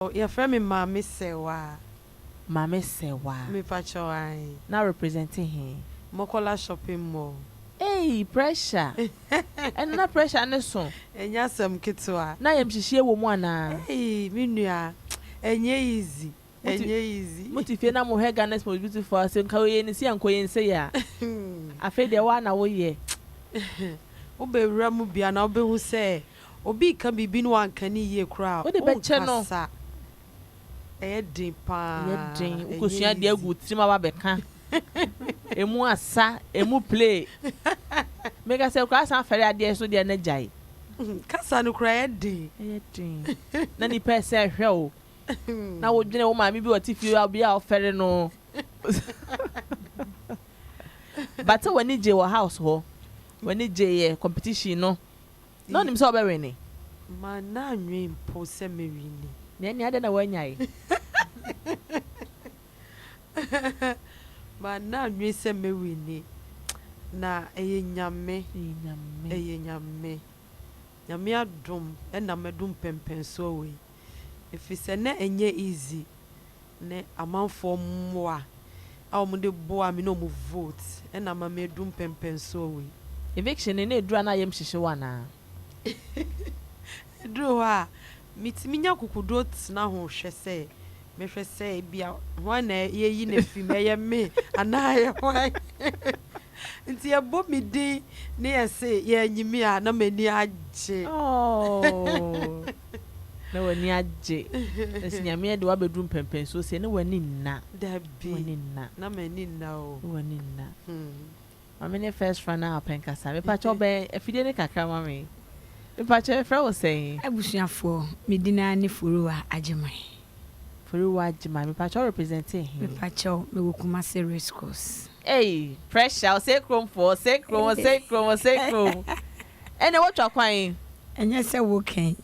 Yɛfrɛ me Maame Sewaa. Maame Sewaa. Me pakyɛw ae. Na represente he? Mokola shopping mall. Eii pressure! Ɛno na pressure no so? Ɛnyɛ asɛm ketewa. Na ayamhyehyeɛ wɔ mu anaa? Eii me nua ɛnyɛ easy, ɛnyɛ easy. Mote fie na mohwɛ Ghana's most beautiful a ɔse nka ɔyɛ ne sei a nka ɔyɛ ne sei a. Afei deɛ woa na woyɛ. Wobɛwura mu bi a na wobɛhu sɛ Obi reka biribi na wanka no yie koraa a, wonkasa. Ɛyɛ den pa ara. Ɛyɛ den. Wokɔsua adeɛ agu wo tirim aba abɛka. Ɛmu asa, ɛmu play. Meka sɛ koraa san fɛre adeɛ so deɛ na gyae. Kasa no koraa ɛyɛ den. Ɛyɛ den. Na nnipa ɛsɛ ɛhwɛ wo. Na wodwene wo maame bi a ɔte fie bi a wofɛre no. But sɛ w'ani gyee wɔ house hɔ, w'ani gyeeɛ competition no, Na onim sɛ ɔbɛwene. Manna nnwen mpo sɛ mɛwini. Na ɛnneɛ adɛn na woannyae? Manna nnwen sɛ mɛwini. Na ɛyɛ Nyame, ɛyɛ Nyame. Nyame adom na madu mpɛnpɛnsoɔ wei. Ɛfiri sɛ na ɛnyɛ easy. ne amanfoɔ mmoa a wɔde boaa me ne wɔn vote na ama madu mpɛnpɛnsoɔ wei. Eviction no na ɛduru a na yam hyehye wo anaa? Ɛduru hɔ a, metumi nya akokoduo tena ho hwɛ sɛ mɛhwɛ sɛ ebia hwan na yɛayi no afiri mu, ɛyɛ me anaa ɛyɛ hwan? Nti yɛbɔ me din ne yɛse yɛanyi me a na m'ani agye. Oh. Na w'ani agye. Ɛsi Nyame ɛde w'abɛduru mpɛnpɛnsoɔ sei, na w'ani nna. Dabi. Na w'ani nna. Na m'ani nna o. Na w'ani nna. Hmm. Mame ne first runner up nkasa. Mepakyɛ ɔbɛn afidie no kakra ma me. Mepakyɛ yɛfrɛ wo sɛn? Abusuafoɔ, me din ara ne Furuwa Agyeman. Foriwa gyima mepakyɛw represent he? Mepakyɛw me wɔ Kumasi race course. Ei pressure ɔsɛe krom foɔ ɔsɛe krom ɔsɛe krom ɔsɛe krom ɛnɛ watwa kwan. Ɛnyɛ sɛ wo kɛn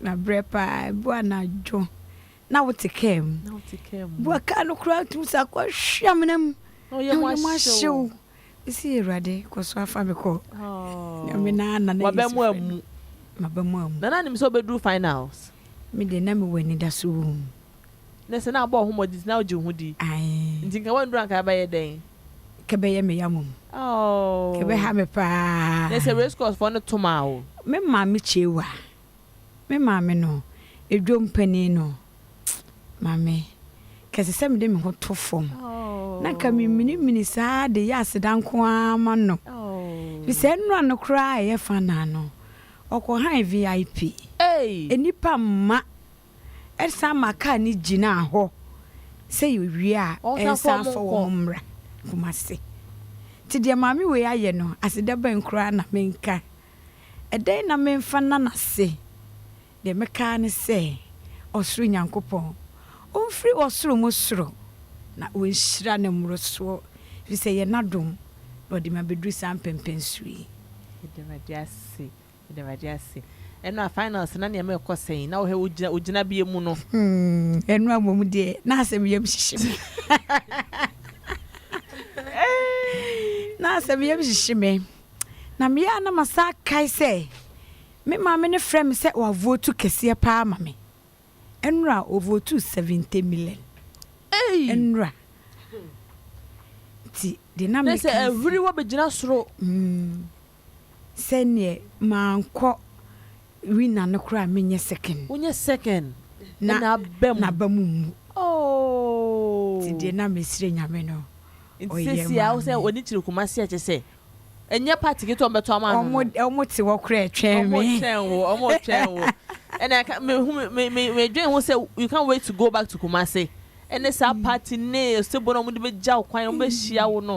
na brɛ paa ɛbu anadwo na wo te car mu bu a car no koraa tumi sa kɔ hwe amena mu na wo yam ahye wo. Mese Awurade kɔ so afa me kɔ. Nyame na na na Waba mu amu. Maba mu amu. Na na nim sɛ ɔbɛduru finals. Me deɛ na mewɔ anidaso wɔ mu. Na sɛ na abɔ wo ho mmɔden nti na wogye wo ho di. Ae. Nti nka wanduru anka ɛbɛyɛ dɛn? Nka ɛbɛyɛ me ya mmom. Aww. Nka ɛbɛha me paa. Na sɛ race course foɔ no to maa wo. Me maame Chewa. Me maame no, dwom panin no, maame, kɛse sɛ mede me ho to fam. Na nka meminimini saa de yɛ aseda nko ara ma no. Fi sɛ nnura no koraa a ɛyɛ fa naa no, ɔkɔhan VIP. Nnipa mma. Ɛsan ma kaa no gyinaa hɔ sɛ yɛwie a ɛnsan fa wɔn mmra Kumasi. Nti deɛ maame wei ayɛ no, aseda bɛn koraa na menka? Ɛdɛn na memfa nna no ase? Deɛ mɛka ara ne sɛ, Ɔsoro Nyankopɔn, Ɔmfiri ɔsoro mu soro na Ɔnhyira Ne mmorosoɔ, ɛfiri sɛ ɛyɛ N'adom na Ɔde me abɛduru saa mpɛnpɛnsoɔ yi. Yɛda Awurade ase, yɛda Awurade ase. Ɛnoa, finals no na nneɛma rekɔ sɛn? Na wohwɛ wo wo gyinabea mu no? Hmm, Ɛnoa mmom deɛ, na asɛm yam hyehye me. Na asɛm yam hyehye me. Na meyɛ a na masan akae sɛ me maame no frɛ me sɛ wavotu kɛseɛ paa ma me. Nnora ɔvotu 70 million. Ei! Nnora. Nti deɛ na meka sɛ. Ɛhuri wɔ bɛgyina soro. Mm. Sɛneɛ mankɔ Rina no koraa menyɛ second. Wonyɛ second na n'aba mu. N'aba mu mmu. Ooh. Nti deɛ na mesrɛ Nyame no ɔyɛɛ maa me. Nti sɛsi a wo sɛ w'ani kyere Kumasi a kyɛ sɛ ɛnyɛ party ketewa wɔn bɛto ama no no. Wɔn te hɔ koraa ɛtwɛn me. Wɔn twɛn wo, wɔn twɛn wo. Ɛna ɛka me hu me me me dwen ho sɛ you can't wait to go back to Kumasi ɛne saa party ne osebɔ no a wɔn de bɛgya wo kwan wɔn bɛhyia wo no.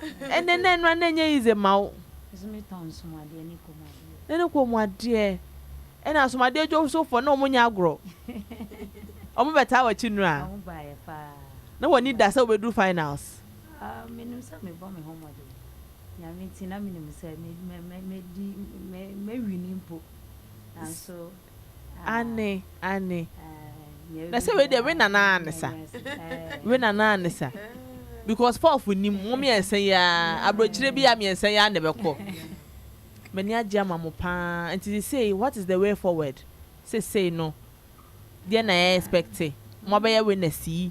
Ɛnɛ na ɛno a na ɛnyɛ yize ma wo. Nso me tɔn nsomadeɛ ne kɔnmuadeɛ. Ne ne kɔnmuadeɛ. Ɛna nsomadeɛ dwosofoɔ na wɔn nyɛ agorɔ. Wɔn bɛ taa wakyi nura. Wɔn ba yɛ paa. Na wɔn ani da sɛ wɔbɛ duru finals. Ah me nim sɛ me bɔ me ho mmɔden. Nyame nti na me nim sɛ me me me me di me me wini mpo. Nanso. Aane aane na sɛ wei deɛ we nana ne sa we nana ne sa because Paul fo nim mo miɛnsa yi aa abrokyire bi a miɛnsa yi aa na ɛbɛkɔ m'ani agye ama mo paa nti sesei what is the way forward sesei no deɛ na yɛ expect mo abɛyɛ winners yi.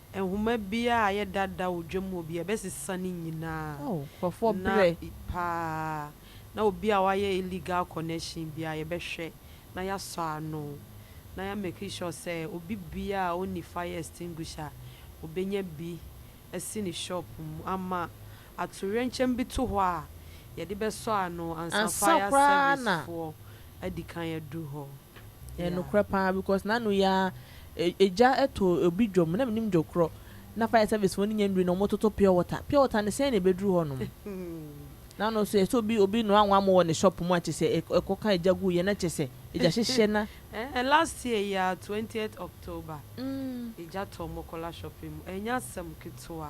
Nhoma biara a ɛyɛ dada wɔ dwam hɔ biara, ɛbɛsesa ne nyinaa. Oh, nkurɔfoɔ Na berɛ. i- paa, na obi a wayɛ illegal connection biara, yɛbɛhwɛ na yɛasɔ ano, na yɛ make sure sɛ obi biara a ɔnni fire extinguisher, ɔbɛnya bi asi ne shop mu ama atoyerɛnkyɛm bi to hɔ a, yɛde bɛsɔ ano ansa Ansa fire koraa na servicefoɔ adi kan aduru hɔ. Ɛyɛ nokorɛ paa because nano yi ara egya to obi dwom na menim dwo korɔ na fire service foɔ no nya nnuru na ɔmo toto pure water pure water no sɛn na ɛbɛduru hɔ nom nano so ɛsɛ obi obi noa nwamo wɔ ne shop mu a kyesɛ ɛkɔka egya gu yɛ na kyesɛ egya hyehyɛ na Ɛɛ last year yi ara twentieth October egya tɔ Mokola shopping mu ɛnyɛ asɛm ketewa.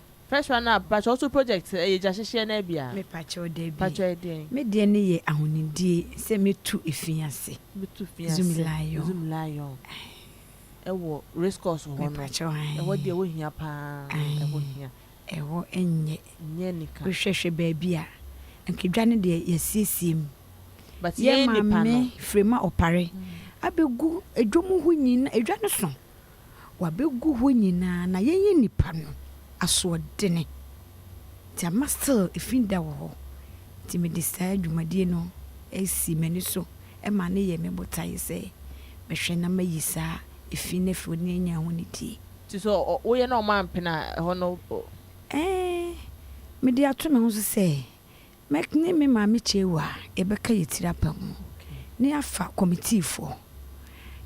First one up pakyɛ woso project ɛyɛ gya hyehyeɛ naa biaa? Mepakyɛw dabi. Pakyɛ ɔyɛ deɛn? Me deɛ no yɛ ahonidie sɛ me tu efi ase. Me tu fi ase. Zumi lion. Zumi lion. Ae. Ɛwɔ race course hɔ no. Mepakyɛw ae. Ɛhɔ deɛ ɛhɔ hia paa. Ae. Ɛhɔ hia. Ɛhɔ nyɛ. Nyɛ anika. Wo hwɛ hwɛ baabi a. Anka dwa no deɛ yasiesie mu. But yɛn nipa no. Yɛ maame frema ɔpare. Abɛgu dwom ho nyina. Dwa no so. wabɛgu hɔ nyinaa na yɛnyɛ nnipa no asoɔdene nti ama still ɛfi da wɔ hɔ nti mede saa dwumadie no asi m'ani so ma no yɛ me botaeɛ sɛ mɛhwɛ na mayi saa ɛfi no afiri hɔ na yɛanya ho anidie. Nti sɛ woyɛ na wɔampene a ɛhɔ no? Ɛɛ, mede ato me ho so sɛ Mɛk ne me maame Chewa a yɛbɛka yɛn tiri apa mu na yɛafa kɔmitiifoɔ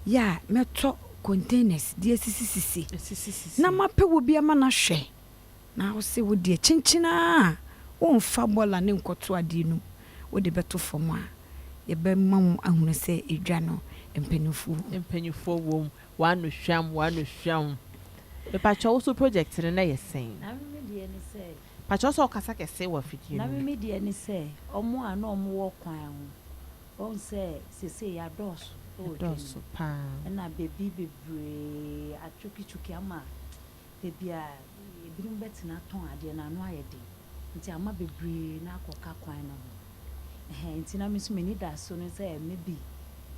yɛ a mɛtɔ containers de asisisisi na mapɛ wɔ bi ama no ahwɛ na wo se wo deɛ kyinkyin ara a wonfa bɔla ne nkɔto adeɛ no mu wode bɛto fam a yɛbɛma wo ahunu sɛ edwa no mpanyinfoɔ wɔ mu. Mpanyinfoɔ wɔ mu. W'ano hwam, w'ano hwam. Mepakyɛw wo so project no na yɛ sɛn? Name me deɛ ne sɛ. Pakyɛw sɛ ɔkasa kɛse wɔ afidie no mu. Na meme deɛ ne sɛ ɔmo a na ɔmo wɔ kwan ho, wahu sɛ sesei yɛadɔɔso wɔ dwa no mu, ɛna baabi bebree atwokitwoki ama baabi a ebinom bɛtena atɔn adeɛ no ano ayɛ den, nti ama bebree no akɔka kwan no ho, ɛhɛɛ nti na me nso m'anidaso ne sɛ maybe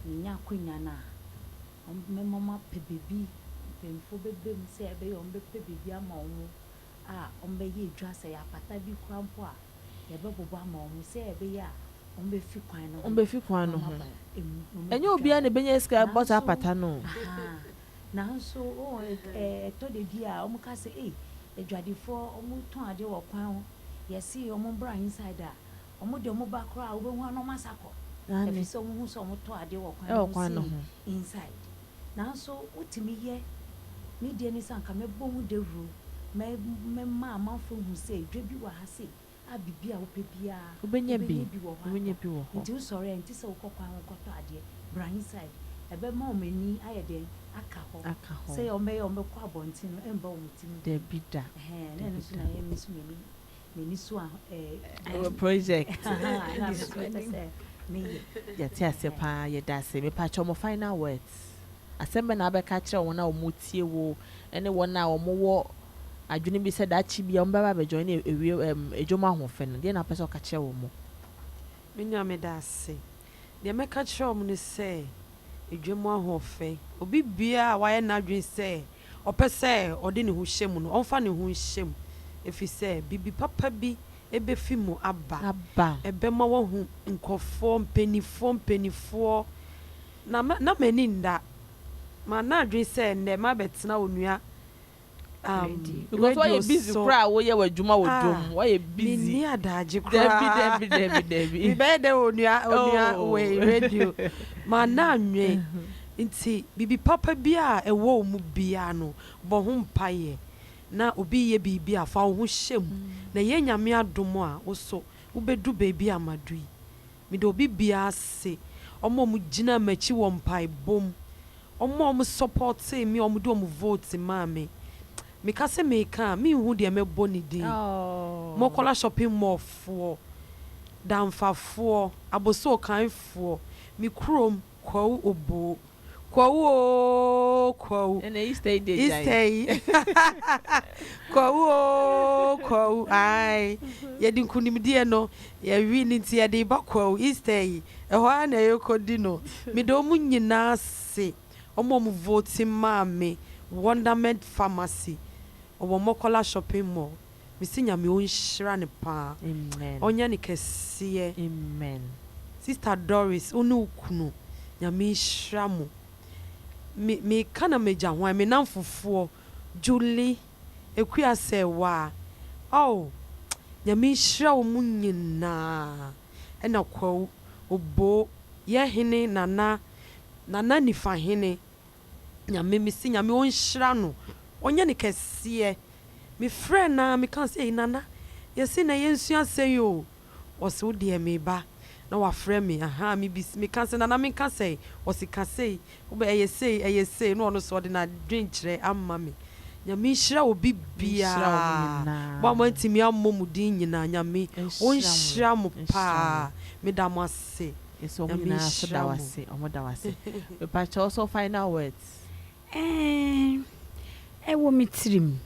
menya akwanya no a, mɛma wɔapɛ baabi, mpanyinfoɔ bɛbam sɛ ɛbɛyɛ a wɔbɛpɛ baabi ama wɔn a wɔbɛyɛ edwa, sɛ apata bi koraa mpo a, yɛbɛbobɔ ama wɔn sɛ ɛbɛyɛ a wɔbɛfi kwan no ho na wɔaba emu, na wɔadi kan wɔ mu. Nanso, aha, nanso, oh, ɛ-ɛ, ɛtɔ da bi a wɔka sɛ, Ei, adwadifoɔ, wɔtɔn adeɛ wɔ kwan ho, yɛse wɔn mbra inside a, wɔn deɛ wɔba koraa a, wobɛhu a na wɔasa kɔ, ɛfiri sɛ wɔhu sɛ wɔtɔ adeɛ wɔ kwan no ho sei, inside. Nanso wotumi yɛ ne deɛ ne sɛ anka mɛbɔ ho dawuro, mɛ mɛma amanfoɔ ahu sɛ dwa bi wɔ ha sei a biribi a wopɛ biara Wobɛnya bi, wobɛnya bi wɔ hɔ wobɛnya atɔ. bi wɔ hɔ. Nti wosɔre a ɛnte sɛ wokɔ kwan ho kɔtɔ adeɛ, bra inside. Ɛbɛma wɔn ani ayɛ dɛn? Aka hɔ. Aka hɔ. Sɛdeɛ wɔbɛyɛ a wɔbɛkɔ abɔnten no ɛmba wɔn tiri mu bio. Dabi da, Ɛhɛn, na ɛno dabi nso da. na ɛyɛ me nso m'ani M'ani so a eh. Wɔ project. Ɛna me so mepɛ sɛ me yɛ. Yɛte ase paa, yɛda ase. Mepakyɛw mo final words. Asɛm bɛn na wobɛka akyerɛ wɔn a wɔretie wo ne wɔn a wɔwɔ adwene bi sɛ daakye bi a wɔbɛba abɛ join awie ɛɛm adwom ahoɔfɛ no, deɛn na wopɛ sɛ woka kyerɛ wɔn? Me nua meda ase. Deɛ mɛka akyerɛ wɔn ne sɛ adwom ahoɔfɛ, obi biara a wayɛ n'adwene sɛ ɔpɛ sɛ ɔde ne ho hyɛ mu no, ɔmfa ne ho nhyɛ mu, efisɛ biribi papa bi befi mu aba, ɛbɛma wahu nkurɔfoɔ, mpanimfoɔ, mpanimfoɔ. Na ma, na m'ani nna. Manna adwene sɛ nnɛ mabɛtena Onua um, Because radio woayɛ busy so. koraa a woyɛ w'adwuma wɔ dwom mu, Ah, woayɛ busy. menni adagye Dabi, koraa. dabi, dabi, dabi. Mebɛyɛ dɛ Onua, Onua Oh. wei radio. Manna anwen. Ntsi biribi papa biara a ewɔ wo mu biara no, bɔ ho mpaeɛ na obi yɛ biribi a fa wo ho hyɛ mu na yɛ Nyame adom a wo so wobɛdu baabi a madu yi. Meda obi biara ase, wɔn a wɔgyinaa m'akyi wɔ mpaebɔ mu, wɔn a wɔsɔpɔtee me a wɔde wɔn vote maa me. Meka sɛ meka a, menhu deɛ mɛbɔ ne din. Mɔkɔla shopping mall foɔ, Damfafoɔ, Abossey Okanfoɔ, me kurom, Kwawu oboo, kwawu oo kwawu. Ɛna Easter yi deɛ gyae. Easter yi kwawu oo kwawu ae yɛde nkunimdie no yɛwe no nti yɛde ba kwawu Easter yi ɛhɔ ara na yɛkɔdi no meda wɔn nyinaa ase wɔn a wɔn vote maa me Wonderment Pharmacy ɔwɔ Mɔkɔla shopping mall. mese nyame ɔnhyira no paa ɔnyɛ no kɛseɛ sister Doris wo ne wo kunu nyame nhyira mo me meka na magya hwan me namfofoɔ Julie Akuasɛwaa oh nyame nhyira wɔ mo nyinaa ɛna Kwawu Oboo yɛ hene Nana Nana Nifahene Nyame me se Nyame ɔnhyira no ɔnyɛ no kɛseɛ me frɛɛ no aa me kaa sɛ ei Nana yɛse nɛ yɛnsua sɛi oo ɔse wodeɛ meba na wafrɛ me ahaa me bis me kaa sɛ Nana menka sɛi ɔse ka sɛi wobɛ ɛyɛ sɛi ɛyɛ sɛi na ɔno nso ɔde nadwenkyerɛ ama me Nyame nhyira obi biaa mo a moantumi ammɔ mo din nyinaa Nyame ɔnhyira mo paa meda mo ase. Yɛsɛ wɔn nyinaa nso da wo ase. Wɔn da wo ase. Mepa kyɛw ɔsɔ final words. Ɛɛh, ɛwɔ me tirim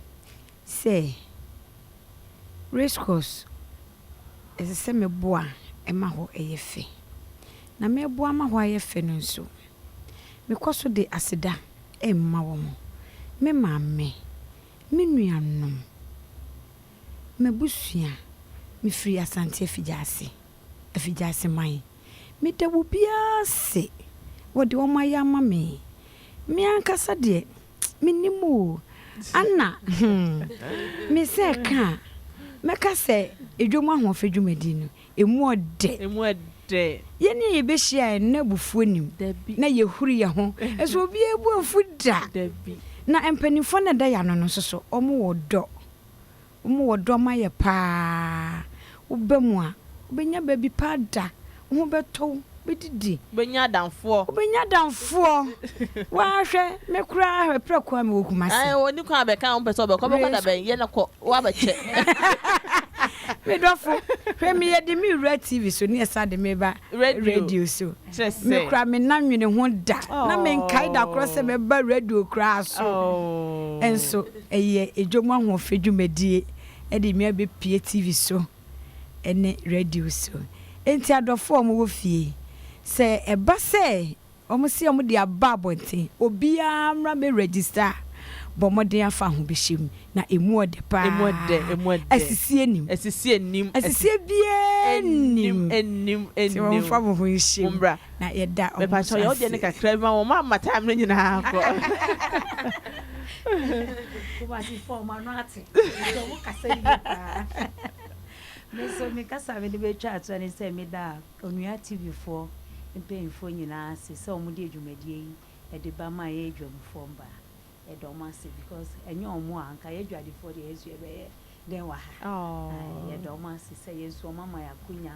sɛ racecourse ɛsɛ sɛ me boa ma hɔ yɛ fɛ. Na me boa ma hɔ ayɛ fɛ no nso, me kɔ so de aseda ma wɔn, me maame, me nuanom, m'abusua, me firi Asante Afigya ase. afigyase man. Meda wo biara ase wɔ deɛ wɔayɛ ama me. Me ankasa deɛ mennim o. Anna, hmm, mesɛ ɛka a, mɛka sɛ Dwam Ahoɔfɛ dwumadie no, ɛmu ɔdɛ. Ɛmu ɔdɛ. Yɛn ne yɛbɛhyia a, na abufuo nnim. Dabi. Na yɛhuri yɛn ho. Ɛso obiara bu afu da. Dabi. Na mpanimfoɔ no a ɛda yɛn ano no nso so, wɔwɔ ɔdɔ. Wɔn wɔ dɔ ma yɛ paa. Woba mu a, wobɛnya baabi pa ada. Wo ho bɛtɔ wo, wobɛdidi. Wobɛnya adamfoɔ. Wobɛnya adamfoɔ. Waa hwɛ, me koraa hwɛ, prɛko ara mewɔ Kumasi. Ae, ɔnni kwan abɛka a wompɛ sɛ ɔbɛkɔ. Ɔbɛkɔ da bɛn? Yɛ no kɔ, woabɛkyɛ. Me dɔfo, hwɛ me yɛ de me wura TV so ne ɛsan de me ba radio so. Me koraa me nna nwene ho da. Na menkae da korɔ sɛ mɛba radio koraa so nso. Ɛyɛ dwom ahoɔfɛ dwumadie de nnwa bɛpue TV so ne radio so. Enti adɔfoɔ a wɔwɔ fie, sɛ ɛba sɛ wɔse wɔde aba abɔnten, obiara mmra mmɛ register a, bɔ mmɔden afa ahobɛhyɛ mu, na ɛmu ɔdɛ pa Ɛmu ɛdɛ, ara. ɛmu ɛdɛ. Asisie nnim. Asisie nnim. Asisie biara nnim. Ɛnnim, ɛnnim, Nti ɛnnim. momfa mo ho nhyɛ mu. Mommra. na yɛda ɔmo nsa ase. Mepakyɛw yɛ wodeɛ no kakra bi ma wɔn ma ma time no nyinaa kɔ. Kumasi foɔ ɔmo ano ate nti ɔmo kasa yie paa. Me nso me kasa a mede bɛtwa atoa ne sɛ meda Onua TV foɔ mpanyinfoɔ nyinaa ase sɛ ɔmo de adwumadie yi ɛde ba ma yɛn adwamfoɔ mbaa. Yɛda ɔmo ase because ɛnyɛ ɔmo a nka yɛ adwadifoɔ deɛ yɛn nso yɛbɛyɛ dɛn wɔ ha. Yɛda ɔmo ase sɛ yɛn nso ɔmo ama yɛn akonya